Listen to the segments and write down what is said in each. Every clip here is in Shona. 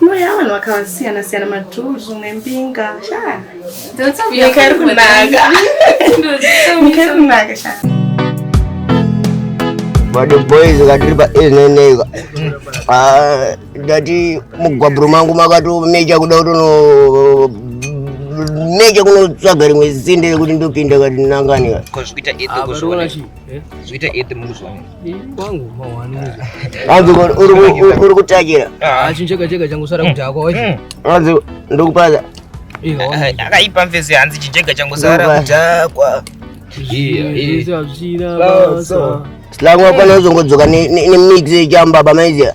Mweya vanhu vakasiyana siyana madhuzu nembinga shaa. Nyika iri kunaka. Nyika iri kunaka shaa. Vado boys vakatiri pa ezneneka. Ah, ndati mugwaburo mangu makatomeja kuda kutono neche kunotsvaga rimwe zisinde rekuti ndopinda kati nangani. Ko zvikuita edhe ko zvikuita edhe munhu zvaona. kwangu mawani uri kutakira chincheka cheka changu sara kuti hako wacho anzi ndokupaza akaipa mfesi hanzi chincheka changu sara kutakwa slangu wapana uzongodzoka nemix yechamba bamaiziya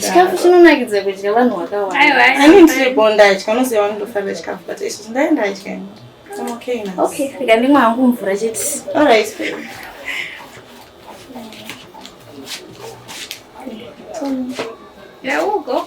chikafu chinonakidza kudya vanhu vakawandandimwe hangu mvura chete There we go.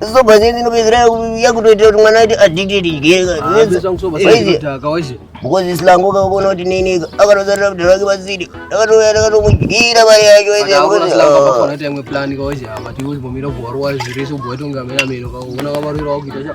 Soba zeni inopedzera yakutoita kuti mwana aite addicted jeka. Because slango kakona kuti nini akatozarira kuti vake vasidi. Akatouya akatomudyira mari yacho ese. Akafana kuti imwe plan kaoje apa tiwe bomira bwarwa zviri so bwato ngamera mero kaona kavarira wakuita cha.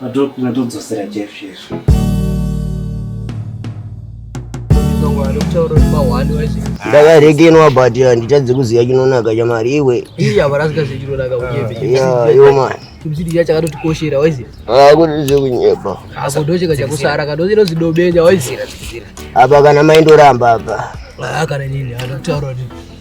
Padoc ndatodzosera Jeff Jeff. ndakarekenwa but handitadze kuziva chinonaka chamari iwe iya varasika zvechinonaka yo mani chibzidija chakatotikoshera waiziva akuti zvekunyepa akodocheka chakusara kadozino zidobenya waiziva apa kana maindoramba apa kana nini anotaura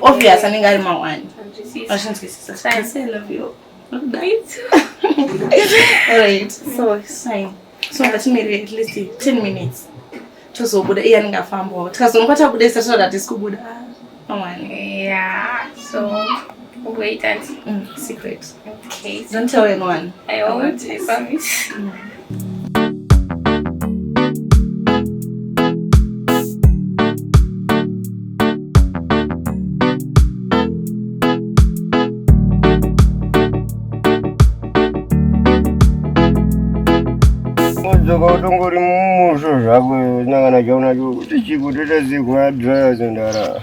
obvious anenge ari mawani vachinzwisisa so ngatimirire at least 10 minutes tozobuda iye anenge afambawo tikazonoka tabuda isa tinoda tisi kubuda mawani yeah so wait and mm, secret Okay. Don't tell anyone. I won't, I promise. Mm. Mudzoka utongori mumusho zvako nyangana chaunacho kuti chikuteta zigwa drive zendara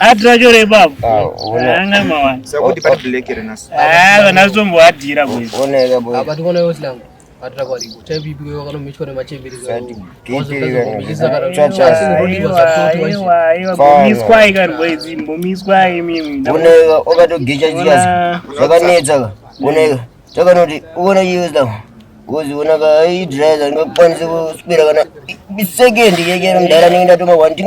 atirachorepapanasombowatira chakanoti uona chiuza kozi uona kaidrive ndingakwanise kuswera kana second yekero mdhara ndinge ndatoma one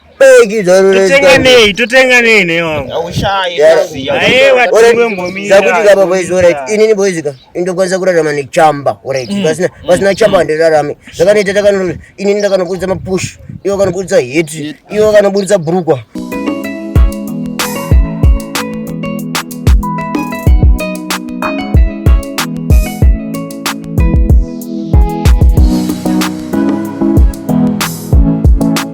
beki totenga nei totenga nei nei wangu aushaye kazi yaye watumwe mbomira zakuti kapa boys alright inini boys ka indokwanisa kurarama nechamba alright mm. pasina mm. pasina chamba mm. ndirarame zvakanoita takano inini ndakanoburitsa mapush iwo kanoburitsa hit iwo kanoburitsa brukwa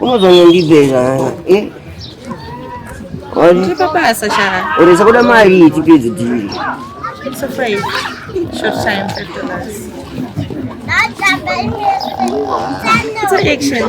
unozonyondibvera eh? oresa kuda mari tipedze dhiri It's an action.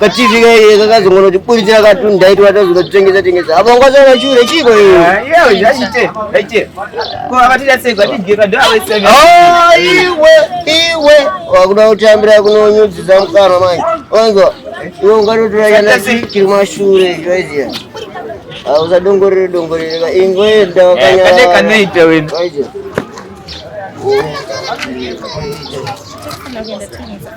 kaTV kaye kakazongona kuti buritira katuni ndaiti watazona tengesa tengesa apa ngwaza vachure chiko iyo ah, iyo zvachite zvachite ko avatira sei kwatidye kadu avaise ah iwe iwe wakuda kutambira kunonyudzisa mukana manje wanzwa iwe ungatotora yana chiri mashure zvoiziya usadongorere dongorere ka ingoenda wakanyara kade kanoita wena Thank you.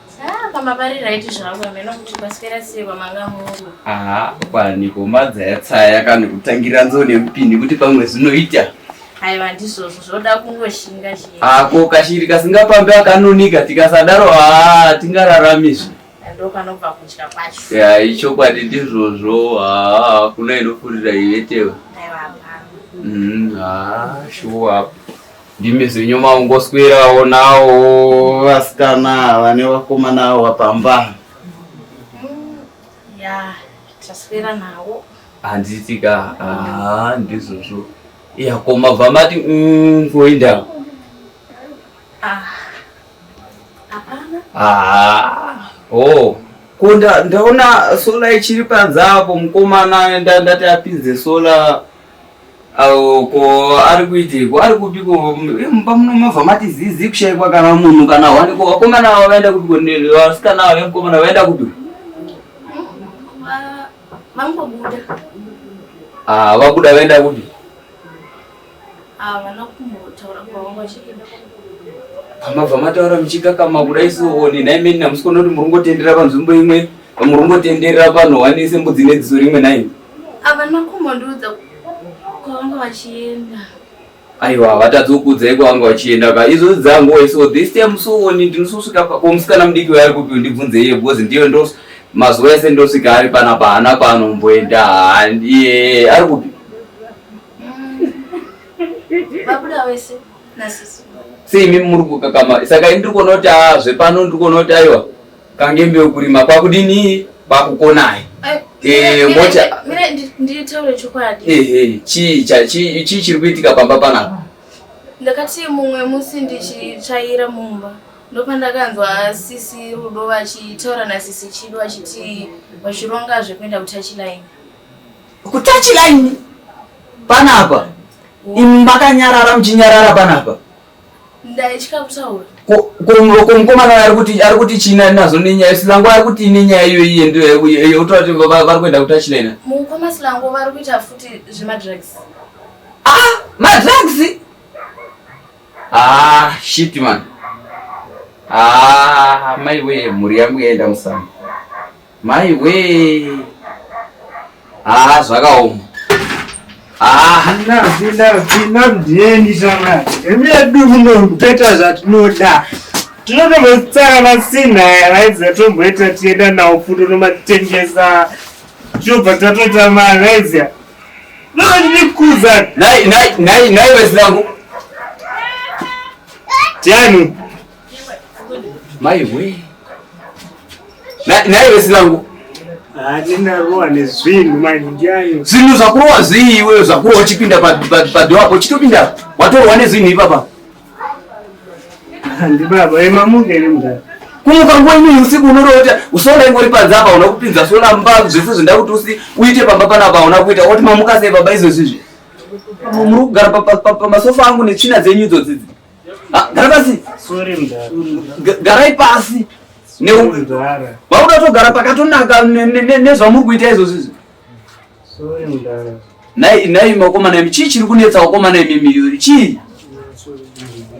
Ah, pamba pari right zvangu hameno kuti paswera sei kwamanga mungu. Aha, kwani komadza yatsaya kana kutangira nzo nemupini kuti pamwe zvinoita. Haiwa ndizvozvo zvoda kungoshinga chii. Ako kashiri kasingapambe akanonika tikasadaro ah tingararamiswi. Ndopanobva kutya kwacho. Ya ichokwadi ndizvozvo ah kuna inofurira ivetewe. Haiwa. Mhm, ah shuwa. Ndimi zvenyu maungoswerawo nawo vasikana vane vakomana awa pamba. Ya, taswera nawo. Handitika, ah ndizvozvo. Ya koma vamati mm kuenda. Ah. Hapana. Ah. Oh. Kunda ndaona sola ichiri panze apo mukomana ndati apinze sola Awo ko ari kuitiko ari kupiko mumba muno mava mati zizi kushaikwa kana munhu kana wani ko vakomana ava vaenda kupiko vasikana ava nemukomana vaenda kupiko vangobuda ah vabuda vaenda kupi havana ah, kumbotaura kwavanga vachienda pamabva mataura muchikakama kuda isioni naimeni namusikona kuti muri kungotendera panzvimbo imwe muri kungotendera vanhu wanise mbudzi nedziso rimwe naini Havana kumbondiudza kwavanga vachienda. Aiwa havatadzi kukuudzai kwavanga vachienda ka izvozvi dzangu wai so this time sooni ndinososvika komusikana mudiki waari kupi ndibvunze iye because ndiyo ndo mazuva ese ndosvika ari pana pahana kwaanomboenda handiye ari kupi vabuda wese nasisi seimi muri kukakama saka ini ndiri kuona kuti aa zvepano ndiri kuona kuti aiwa kangembe ukurima kwakudini kwakukonai eh, mota nditaure chokwadi ehe chii chii chiri kuitika pamba panapa ndakati mumwe musi ndichitsvaira mumba ndopandakanzwa sisi rudo vachitaura nasisi chido vachiti vachironga zvekuenda kutachilaini kutachilaini panapa imi makanyarara muchinyarara panapa ndaitya kutaura ko mukomana ari kuti ari kuti china nazo nenyaya silango ari kuti ine nyaya iyo iye ndio yotaura kuti vari kuenda kuti achina ina mukoma silango vari kuita futi zvemadrugs ah madrugs ah shit man ah mai wee mhuri yangu yaenda musango Mai wee. Ah, zvakaoma. Ah, nazi nazi namdeni shama. Emedu muno mpeta zvatinoda. Tinotombotsara vasina vaiza tomboita tienda nawo fundo nomatengesa. Chobva tatoita mari vaiza. Ndokuza. Nai nai nai nai wesilangu. Tiani. Mai we. Na naye wesinangu. Handina roa nezvinhu mai ndiyayo. Zvinhu zvakurowa zvii iwe zvakurowa chipinda pa pa, pa door apo chitopinda. Watorwa nezvinhu ipapa. Handi baba emamuke ere mudhara. Kumuka nguva imweni usiku unorota usoona ingori panze apa una kupinza soona mba zvese zvindakuti usi uite pamba panapa una kuita woti mamuka sei baba izvo zvizvi. Muri kugara pa pa, pa, pa masofa angu netsvina dzenyu idzo dzidzi. Ah, gara pasi. Sorry mdara. Garai pasi. Ne mdara. Vauda togara pakatonaka nezvamuri kuita izvozvo izvi. Sorry mdara. Nai nai makomana imi chii chiri kunetsa vakomana imi miyuri chii?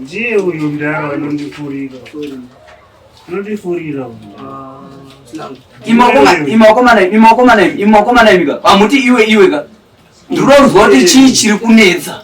Ndiye uyu mdara anondifurira. Anondifurira. Ah, imakomana imakomana imakomana imakomana imi ka. Pamuti iwe iwe ka. Ndiri kuzwa kuti chii chiri kunetsa.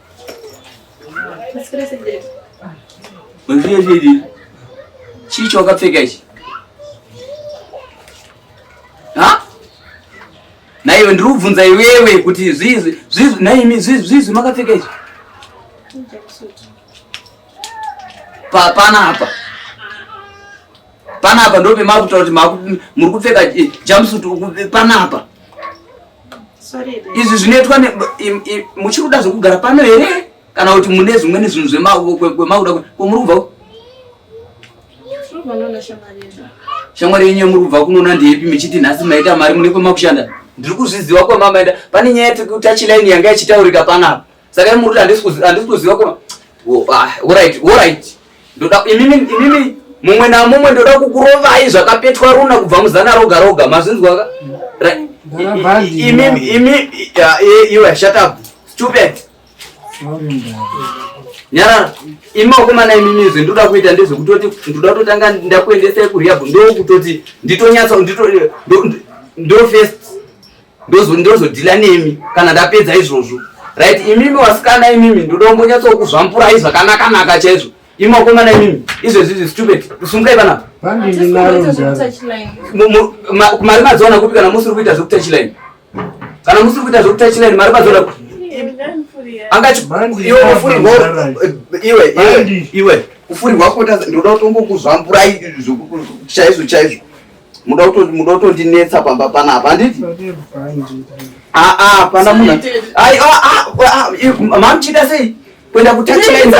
Muzviyezvidi chii chawakapfeka ichi? Ha? Naiwe ndiri kubvunza iwewe kuti zvizi zvizi naimi zvizi zvizi makapfeka ichi? Papana apa. Pana apa ndope makutaura kuti muri kupfeka eh, jumpsuit pana apa. izvi zvinoitwa muchiri kuda zvekugara pano here kana kuti mune zvimweni zvinhu zvemakuda kwomuri kubva shamwari yenyu yomuri kubva kunoona ndeipi michiti nhasi maita mari mune kwemakushanda ndiri kuzviziva kwamamaenda pane nyaya yekuti tachilaini yanga ichitaurika panapa Saka iye muruti handisi kuziva handisi kuziva ko ah, alright alright ndoda imimi imimi mumwe na mumwe ndoda kukurovai zvakapetwa runa kubva muzana roga roga mazvinzwa ka imimi imimi iwe eh, shut up stupid nyarara imakomana imimizi ndoda kuita ndezvekutoti ndoda kutotanga ndakuendesai kurehab ndokutoti nditonyatsa ndofirst ndozodhila nemi kana ndapedza izvozvo right imimi wasikana imimi ndoda kumbonyatsokuzvampurai zvakanaka naka chaizvo imi wakomana imimi izvezvi izvi stupid sumukai panapa mari madziwana kupi kana musiri kuita zvekutachiline kana musiri kuita zvekutachiline mari madziwana kupi iwe kufurirwa kota ndinoda kutongokuzvamburai chaizvo chaizvo muda kutondinetsa pamba panapa handiti aa pana munhu mamuchida sei kuenda kutachienza